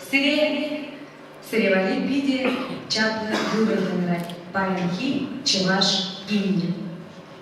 Сире, сире валли питӗ чаплӑ юрӑ янӑрать паянхи чӑваш гимнӗ.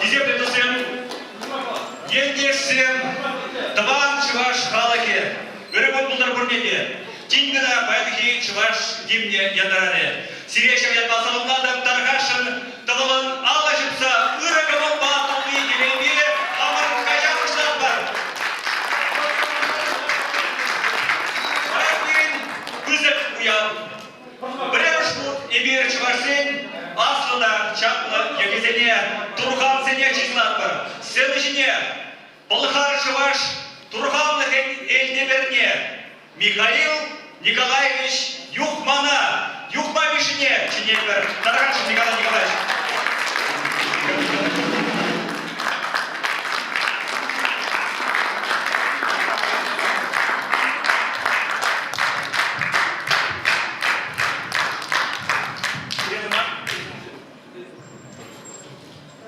Хисеплӗмӗрсем, ентешсем, тӑван чӑваш халӑхӗ, ырӑ кун пултӑр пурне те! Тин кӑна паянхи чӑваш гимнӗ янӑрарӗ. Сире ҫав ятпа саламлатӑп, тархасшӑн, тӑлӑмӑн алла ҫупса ырӑ кӑмӑлпа тулли телейпе хамӑр каҫа пуҫлатпӑр! Паян пирӗн пысӑк уяв, Пӗрремӗш хут эпир чӑвашсен аслӑ та чаплӑ йӑхӗсене, турхансене чыслатпӑр. Сцена ҫине Пӑлхар-чӑваш турханлӑхӗн элтеперне Михаил Николаевич Юхмана, Юхма Мишшине чӗнетпӗр. Тархасшӑн, Николай Николаевич.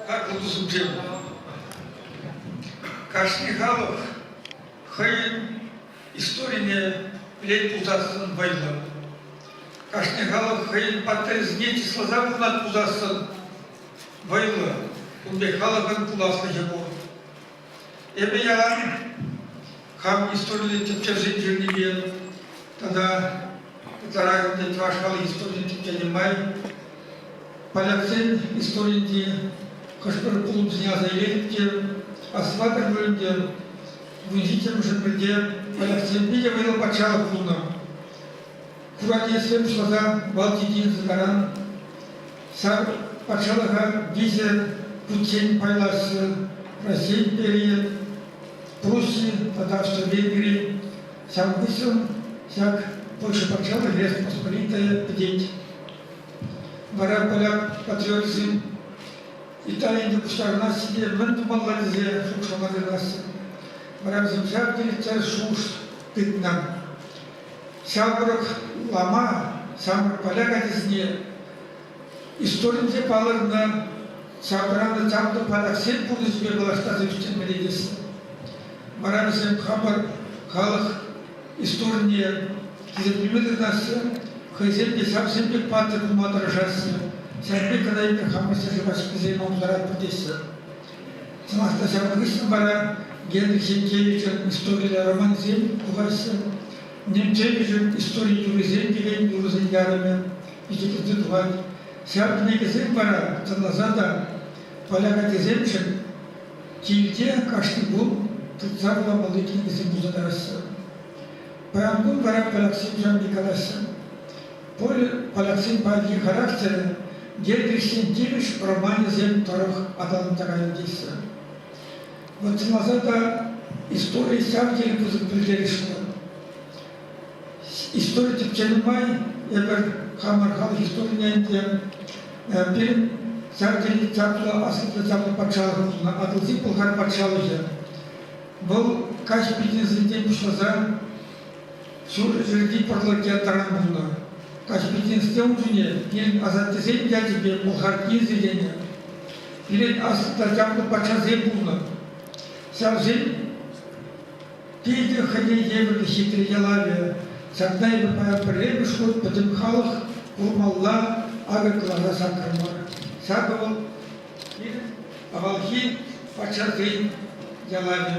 Как вот субъект. Кашни халӑх хӑйӗн историне пӗлет пулсассӑн вӑйлӑ. Кашни халӑх хӑйӗн паттӑрӗсене чысласа кунат пулсассӑн вӑйлӑ, ун пек халӑхӑн пуласлӑхӗ пур. Эпӗ яла хам историллӗ тӗпчевсен журнипе тата ытларахӑнче чӑваш халӑх историйӗн тӗпченӗ май поляксен историйӗнчи хӑш-пӗр пулӑмсене аса илетӗп те, аслатӑр вырӑнте вундитермӗшӗн пӗлте поляксем питӗ вӑйлӑ патшалӑх пулнӑ. Куратеевсем шласа Балтики кӑтаран Ҫар патшалӑха виҫӗ хутчен пайлаҫҫӗ, Раҫҫей империйӗ, Пруссия тата Швейцари. Ҫав хыҫҫӑн ҫак Польша патшалӑхӗ Республика пӗтет. Вара поляк патриотсем Италине пуҫтарӑнаҫҫӗ те мӗн тумалла тесе шухӑшлама тытанаҫҫӗ. Вара вӗсем ҫав тери чӑрӑш шухӑш тытнӑ. ҫав тӑрӑх улама, ҫамрӑк поляк ачасене историнче палӑрнӑ ҫаврӑнанӑ чаплӑ патаксен пурнӑҫӗпе паллаштарса ӳстермелле Вара вӗсем хамӑр халӑх историне тӗрӗслеме тытаҫҫӗ, хӑйсем те ҫавсем пек паттӑр пулма тӑрӑшаҫҫӗ. Ҫак пек кӑна хамӑр ҫӗршыв ачисем ӑнлантаратпӑр теҫҫӗ. Сӑмах та ҫавӑн хыҫҫӑн вара Генрих Янкевичӑн историллӗ романсем тухаҫҫӗ. Янкевичӑн истори юррисем текен юрӑсен ярӑмӗ ӳстерсе тухать. Ҫав кӗнекесем вара сӑнласа та поляк ачасемшӗн килте кашни кун тытса вуламалли кӗнекесем туса тӑраҫҫӗ. Паян кун вара поляксем ҫавне калаҫҫӗ. пуль поляксен паянхи характерӗн Гербихсен тивӗҫ романӗсем тӑрӑх аталантарайӑн теҫҫӗ. Вот чӑнласа та истори ҫав тери пысӑк пӗлтерӗшлӗ. Истори тӗпченӗ май эпир хамӑр халӑх историне те пирӗн ҫав тери чаплӑ аслӑ чаплӑ патшалӑх пулнӑ Атӑлҫи Пӑлхар патшалӑхӗ. Вӑл каҫ бизнесӗнчен пуҫласа Ҫурҫӗрти пӑрлӑкӗ таран пулнӑ. Каспийсенсте ун ҫине тен асаттесен ячӗпе Мухартин сиенӗ. Пирӗн аслӑ та чаплӑ патшасем пулнӑ. Ҫавсен тете хӑйне евӗрлӗ хитре ялавӗ. Ҫакна эпӗ пӗрремӗш хут пӗтӗм халӑх курмалла, акӑ кӑлара сакрӑмӑр. Ҫакӑ вӑл пирӗн авалхи патшасен ялавӗ.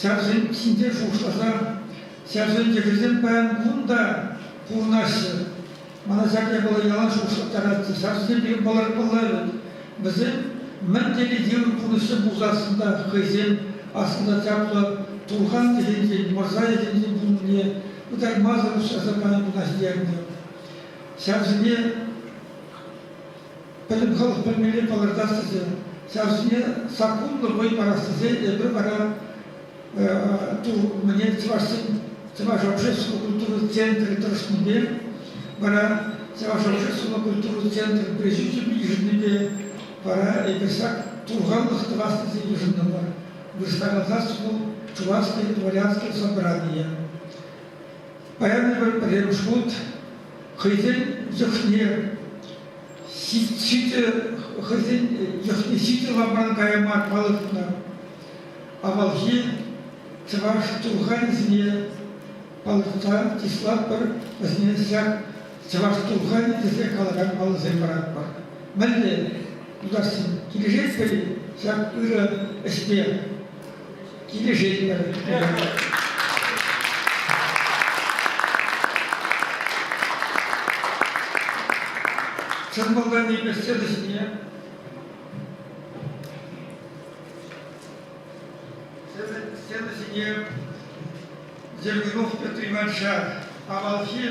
Ҫарсем ҫинчен шухӑшласа, ҫарсен йӑхӗсем паян кун та пурӑнаҫҫӗ. Мана ҫак япала ялан шухӑшлаттаратчӗ. Ҫарсем пирӗн палӑрмалла вӗт. Вӗсем мӗн тери йывӑр пурнӑҫра пулсассӑн та хӑйсем аслӑ чаплӑ турхан тӗнчинчен, мӑрса тӗнчинчен пулнине ытаймасӑр уҫласа пани пурнӑҫ тернӗ. Ҫарсене пӗтӗм халӑх пӗлмелле палӑртас тесе, ҫав ҫине саккунлӑ вӑй парас тесе эпир вара мӗне чӑвашсен Чӑваш общественлӑ культура центрӗ тӑрӑшнипе вара Чӑваш общественлӑ культура центрӗн пресӳчӗпе йышӑннипе вара эпир ҫак турханлӑх тӑвас тесе йышӑнтӑмӑр. Вырӑсланасас вӑл чувашское дворянское собрание. Паян эпир пӗрремӗш хут хӑйсен йӑхне Ҫитӗ хӑйсен йӑхне ҫитӗ лапран каяма палӑртнӑ. Авалхи чӑваш турханӗсене палӑртса чыслатпӑр, вӗсене ҫак чӑваш турханӗ тесе калакан паллӑсем паратпӑр. Мӗнле, тутарсем, килӗшетпӗр-и ҫак ырӑ ӗҫпе? Килӗшетпӗр. Чӑн малтан икмӗшсен ӗҫне сцена ҫине Зернунов Петр Ивановича авалхи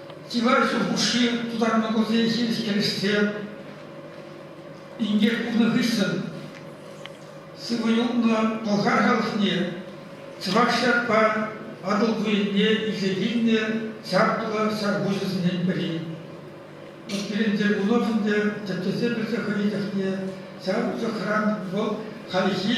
чылай ҫул хушши тутарма курсен ҫивӗч Инкек пулнӑ хыҫҫӑн сывӑ юлнӑ Пӑлхар халӑхне чӑваш ҫакпа Атӑл туйӗнне илсе килнӗ чаплӑ ҫарпуҫӗсенчен пӗри. Пирӗн Дергунов ӗнтӗ тӗпчесе пӗлсе хӑйӗн чухне ҫав чухран вӑл хальхи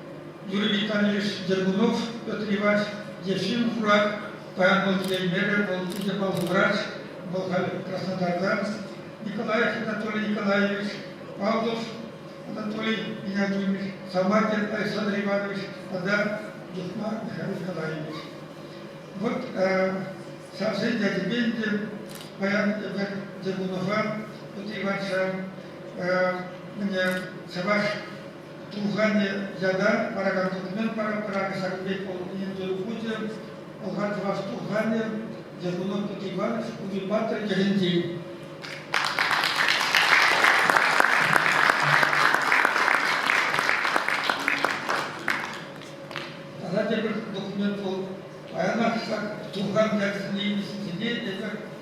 Юрий Витальевич Дергунов Петр Ивач е ҫын хурать, паян вӑл киленмерӗ, вӑл питӗ паллӑ врач, вӑл халь Краснодартан, Николай Анатолий Николаевич, Павлов Анатолий Игнатьевич, Саматин Александр Иванович тата Духма Михаил Николаевич. Вот ҫавсен ячӗпе ӗнтӗ паян эпир Дергунова Петр Иванча мне чӑваш Туханӗ ята паракан документ паракракӗ Саккурек полковникӗн тыл хучӗ, Пӑлхан чӑваш Туханӗ, Ермолов Иванович Умипатр Герентин. Тата тепӗр документ вӑл паянах ҫак Туххан ячӗсене илнисене эпир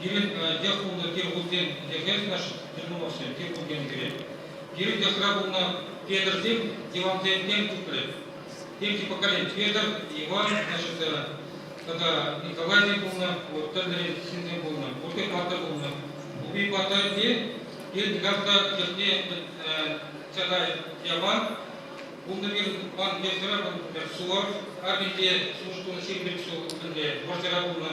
Пирӗн те хуллӑ тир хутен йӗркеленӗ Дермуновсем тир хутен кӗрет. Пирӗн йӑхра пулнӑ Петрсем дивансенчен тухрӗ. Темки поколени Петр, Иван, значит, тата Николайсен пулнӑ, вот тӗрлӗрен ҫынсем пулнӑ, пурте паттӑр пулнӑ. Упи паттӑрне Пирӗн никам та йӑхне тата яван пулнӑ-мир пан йӑхра пӗр Сувар, Арминте сушкун ҫил пек су пӗрле вӑрҫӑра пулнӑ.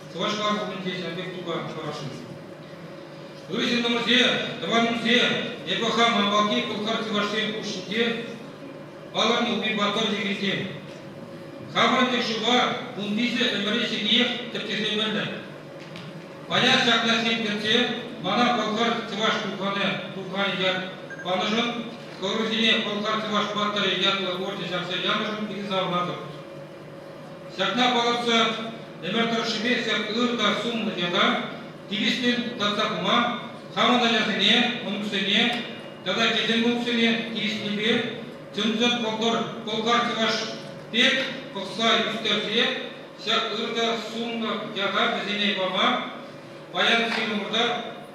чӑвашла хутӗнче ҫав пек тупа тӑвасшӑн. Ывҫӑ-тӑмӑрсем, тӑванӑмсем, эпӗ хам авалхи пӑлхар-чӑвашсен хушшинче палан юпи-паттӑр чӗкисем. Хамӑрӑн тӗк шыва ун пичӗ ӗмӗрӗ ҫиниех тӗпчесе пӗлнӗ. Паян ҫакна сирпӗтсе мана пӑлхар-чӑваш тухханӗ тухханӗ ят панӑшӑн, хӑрусене пӑлхар-чӑваш паттӑрӗ ятлӑ орден ҫакса янӑшӑн пикӗ савӑнатӑп. Ҫакна палӑртса ӗмӗр тӑршшӗпе ҫак ыр та сумлӑ яла тивӗҫлӗн татса пыма, хамӑн ачасене, мӑнуксене тата тӗлӗнмӗлӗхсене тивӗҫлипе чӑн-чӑн пӑлхар чӑваш пек пӑхса ӳстерсе ҫак ыр та сумлӑ яла вӗсене пама паян ҫирӗм умӑрта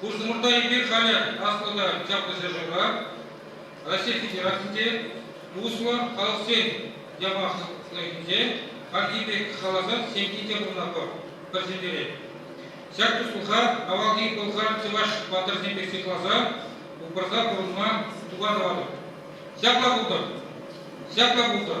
Хусмурта эпир халӗ аслӑ та чаплӑ ҫӗршывра, Раҫҫей Федерацинче, туслӑ халӑхсен яваплӑхӗнче хальхи пек халасан ҫемйи те пурӑнатпӑр, пӗр ҫӗнтерет. Ҫак туслӑха авалхи пӑлхар, чӑваш паттӑрсем пек сыхласа, упраса пурӑнма туха тӑватӑп. Ҫапла пултӑр, ҫапла пултӑр.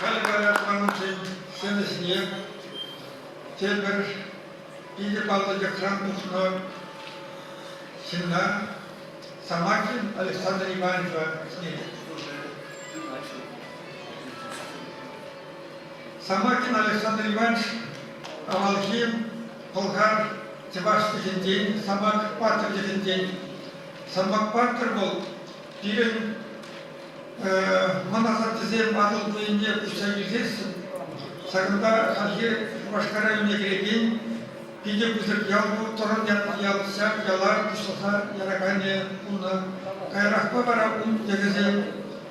Халь говорят манӑншен ҫӗнӗсене те пӗр питӗ паллӑ йӑхран тухнӑ ҫынна Самакин Александр Ивановича ҫӗнетет. Самаркин Александр Иванович авалхи пӑлхар чӑваш чӗлхинчен, самак паттӑр чӗлхинчен. Самак паттӑр вӑл пирӗн мӑн асаттесем Атӑл хулинче пуҫса ӳсессӗн ҫакӑнта хальхи Шупашкар районне кӗрекен питӗ пысӑк ял вӑл, Тӑрӑн ятлӑ ял, ҫак яла пуҫласа яраканӗ пулнӑ. Каярахпа вара ун йӑхӗсем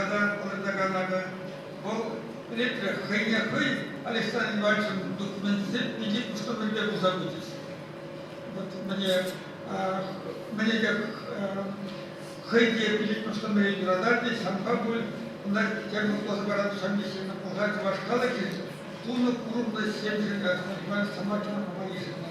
ятан палӑртакан акӑ вӑл ретре хӑйне хӑй Александр Ивановичӑн документӗсем питӗ куштӑмӑрпе пулса пычӗҫ. Вот мне, мне те хӑй те питӗ куштӑмӑре юрататчӗ, ҫамка пуль, кунта темле пулса паратчӗ, ҫамрӑксем пулса чӑваш халӑхӗн тунӑ курӑмлӑ ҫемҫӗн размахман самакина пама йышӑннӑ.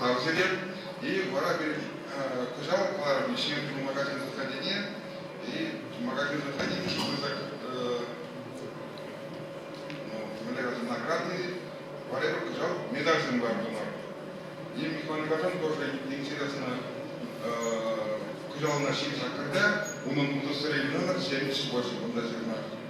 тав сӗтел. И вара пирӗн кӑҫал кӑларӑмне Ҫиелти магазин заведения и магазин заведения, что мы так являются наградные, валера кӑҫал медальсем лартӑмӑр. И муниципальный газран тоже интересно кӑҫалына ҫивӗч аккорда унӑн тусӗсрен хӑнӑр ҫемҫ больше бундаҫырна.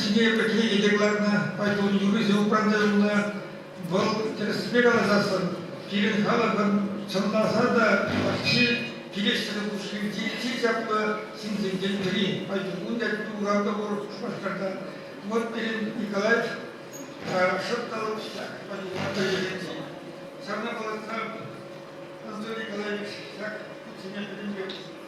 Ҫине пӗтме йӗтек лартнӑ, поэтӑн юррисем упранса Вӑл тӗрӗспе каласассӑн, пирӗн халӑхӑн чӑнласа та вӑрҫи килӗштерӳ пушхирти чи чаплӑ ҫынсенчен пӗри. Поэтӑн ун ятне урам та пур Шупашкартан. Вот пирӗн Николаев шӑп та лӑпчӑк поэтӑна пӗлтеретчӗ. Ҫавна палӑртса Анатолий Николаевич ҫак хутсене пӗтӗмпех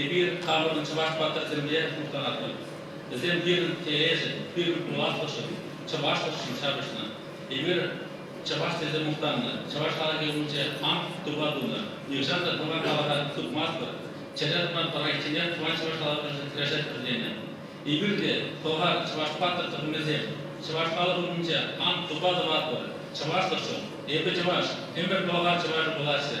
Эпир тарӑннӑ чӑваш паттӑрсемпе мухтанатпӑр. Вӗсем пирӗн телейшӗн, пирӗн пуласлӑхшӑн, чӑвашлӑхшӑн ҫапӑҫнӑ. Эпир чӑваш тесе мухтаннӑ, чӑваш халӑхӗ умӗнче ант тупа тунӑ. Нихҫан та пуран халӑха тупмастпӑр, чӗре тӑван проектне тӑван чӑваш халӑхӗшӗн кӗрешетпӗр тенӗ. Эпир те, Хӑвар, чӑваш паттӑр тӑхӑмӗсем, чӑваш халӑх умӗнче ант тупа тӑватпӑр. Чӑвашлӑхшӑн, эпӗ чӑваш, ӗмӗр тӑлӑха чӑвашӗ пуласчӗ.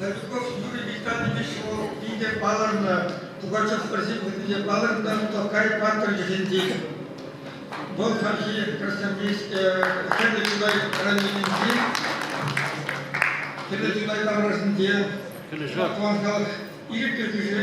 Левков Юрий Витальевич вӑл питӗ палӑрнӑ, Пугачев пӗрсен хутӗнче палӑрнӑ Токай паттӑр ҫӗҫӗнчен. Вӑл хальхи Хӗрлӗ Чутай районӗнчи Хӗрлӗ Чутай таврашӗнче тӑван халӑх ирӗклӗ хӳшӗ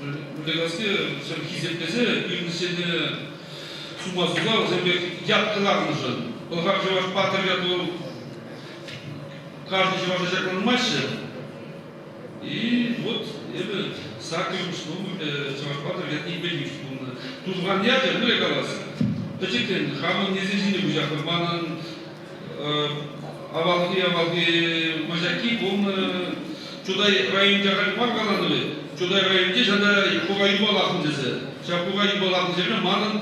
Выртаевские вӗсем хисеплесе илнӗҫене сума суса вӗсем пек ятка лартнӑшӑн Пӑлхар чӑваш паттӑр яту каждый чӑваша ҫакланмаҫҫӗ. И вот эпӗ саккӑрмӗш номерлӗ чӑваш паттӑр ятне илмеллимӗш пулнӑ. Тусхан ячӗ, ну я калас, пӗчӗкрен хамӑн несӗл ҫине куҫа хывманӑн, Авалхи-авалхи мачаки пулнӑ. Чутай районӗнче халь мар каланӑ Чутай районӗнче ҫата пука юпа лартнӑ тесе. Ҫав пука юпа лартнӑ ҫӗрне манӑн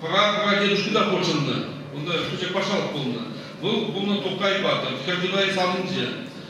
прадедушка та хутшӑннӑ. Унта пуҫа патшалӑх пулнӑ. Вӑл пулнӑ Тукай патӑр, Хӗрчутай савӑнчӗ.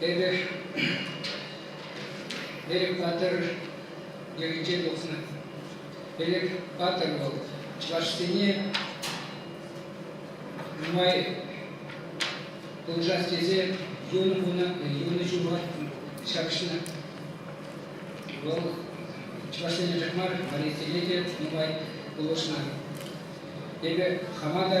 Эпӗ Элӗк Патӑр йӑхӗнче тухнӑ. Элӗк Патӑр вӑл чӑвашсене нумай пулӑшас тесе юнӑ куна, юнӑ ҫула ҫапӑҫнӑ. Вӑл чӑвашсене тӗк мар, валейсене те нумай пулӑшнӑ. Эпӗ хама та